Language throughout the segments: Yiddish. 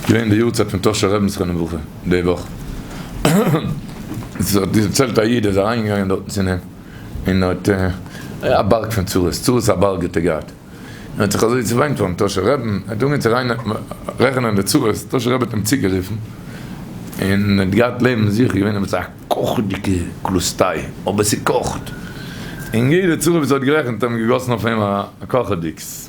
געווען די יארצייט פון טאהשער רעבין זכרון לברכה די וואך, זיי האט דערציילט א איד איז אריין געגאנגען דארטן צו נעם און האט א בארג פון צרות, צרות א בארג האט ער געהאט, און האט זיך אזוי צעוויינט פארן טאהשער רעבין, ער האט אנגעהויבן צו ריין רעכענען די צרות, טאהשער רבי האט אים צוגערופן, און ער האט געהאט לעבן זיך איז געווען עפעס א קאכעדיגע קלאסטיי, אבער ס'קאכט, און יעדע צרה וואס ער האט גערעכנט האט מען געגאסן אויף אים א קאכעדיגס.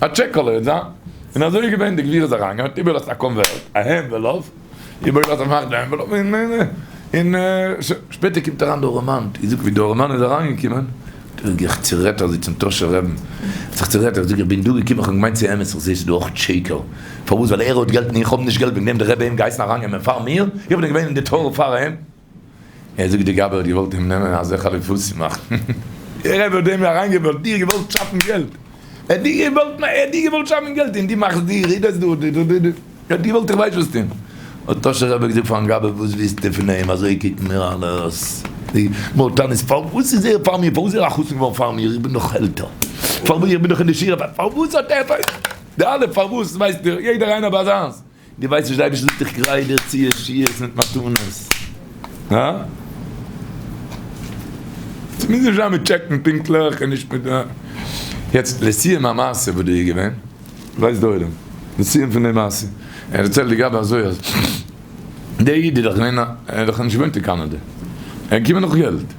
א טשעקעלע וועט זיין, און אזוי איז געווען, די גביר איז אריין געגאנגען, איבערגעלאזט א קאנווערט, א ענוועלאפ, איבערגעלאזט א פאכטע ענוועלאפ, און און שפעטער קומט אריין די ארעמאן, איך זאג ווי די ארעמאן איז אריין געקומען, האט ער זיך צערעדט אז זיצן טאהשער רעבן, האט זיך צערעדט, ער האט געזאגט איך בין דא געקומען, איך האב געמיינט ס'איז אמת, איך זעה ס'איז דא אויך טשעיקעל, פארוואס ווייל ער האט געלט און איך האב נישט געלט וועגן דעם האט דער רבי אים געהייסן אריין נעמען פאר מיר, איך בין געווען אין די טאהר פאר אים. ער זאגט די גבאי האט געוואלט אים נעמען אזוי חליפות צו מאכן. דער רבי האט דעם אריינגעוועלט דיר געוואלט שאפן געלט ער האט דיר געוואלט ער האט דיר געוואלט שאפן געלט און דו מאכסט דיר רעדסט דא די די די די ער האט געוואלט איך ווייס וואס טון האט טאהשער רבי געזאגט פארן גבאי וואס ווילסטו פון אים אזוי קוקן מיר אלעס די מור תן איז פארוואס איז ער פאר מיר פארוואס איז ער א חתן געווארן פאר מיר איך בין דאך עלטער פארוואס איך בין דאך אין די שיעור פארוואס האט ער די אלע פארוואס ווייסט דיר יעדער איינער ביי זיינס. די ווייסט נישט די אייבערשטער זאגט איך גרייט דיר צו ישועות מיט מתנות, הא? ס'מוז נישט זיין מיט טשעקן פונקטליך און נישט מיט, יעצט לסיום המעשה וואס דא איז געווען, ווייסט די עולם די סיום פון די מעשה, ער דערציילט די גאבע אזוי אז דער איד איז דאך געווען א, ער איז דאך נישט געוואוינט אין קאנאדע, ער איז געקומען נאך געלט,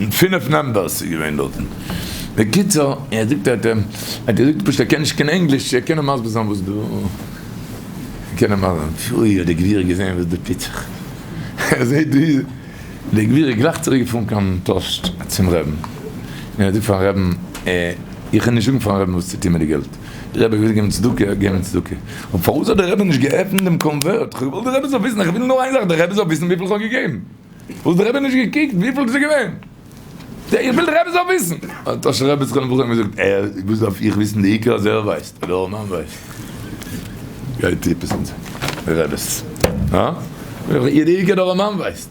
מיט פינף נאמבערס איז געווען דארטן. בקיצור, ער זאגט ער האט געזאגט פשוט ער קען נישט קיין ענגליש, ער קען נאר מסביר זיין וואס דא קען ער מאכן. פוי האט די גביר געזען וואס דא טוט זיך, ער זעט ווי די גביר איז גלייך צוריק געפארן קיין טאשט צום רעבן, און ער זאגט פארן רעבן, איך וועל נישט זאגן פארן רעבן וואס צו טון מיט די געלט, די רבי וויל געבן צדקה, ער געבן צדקה. אבער פארוואס האט די רבי נישט געעפנט דעם קאנווערט, כ'וואלט געוואלט די רבי זאל וויסן, איך וויל נאר איין זאך, די רבי זאל וויסן וויפיל כ'האב געגעבן. וואס די רבי נישט געקוקט וויפיל ס'איז געווען? איך וויל די רבי זאל וויסן. האט טאשער רבי זיך אנעבראכן און געזאגט, אה, וואס דארף איך וויסן, די עיקר אז ער ווייסט, אדער אור מים ווייסט. גייט עפעס אן זיין רעבעס, הא? די עיקר אז אור מים ווייסט.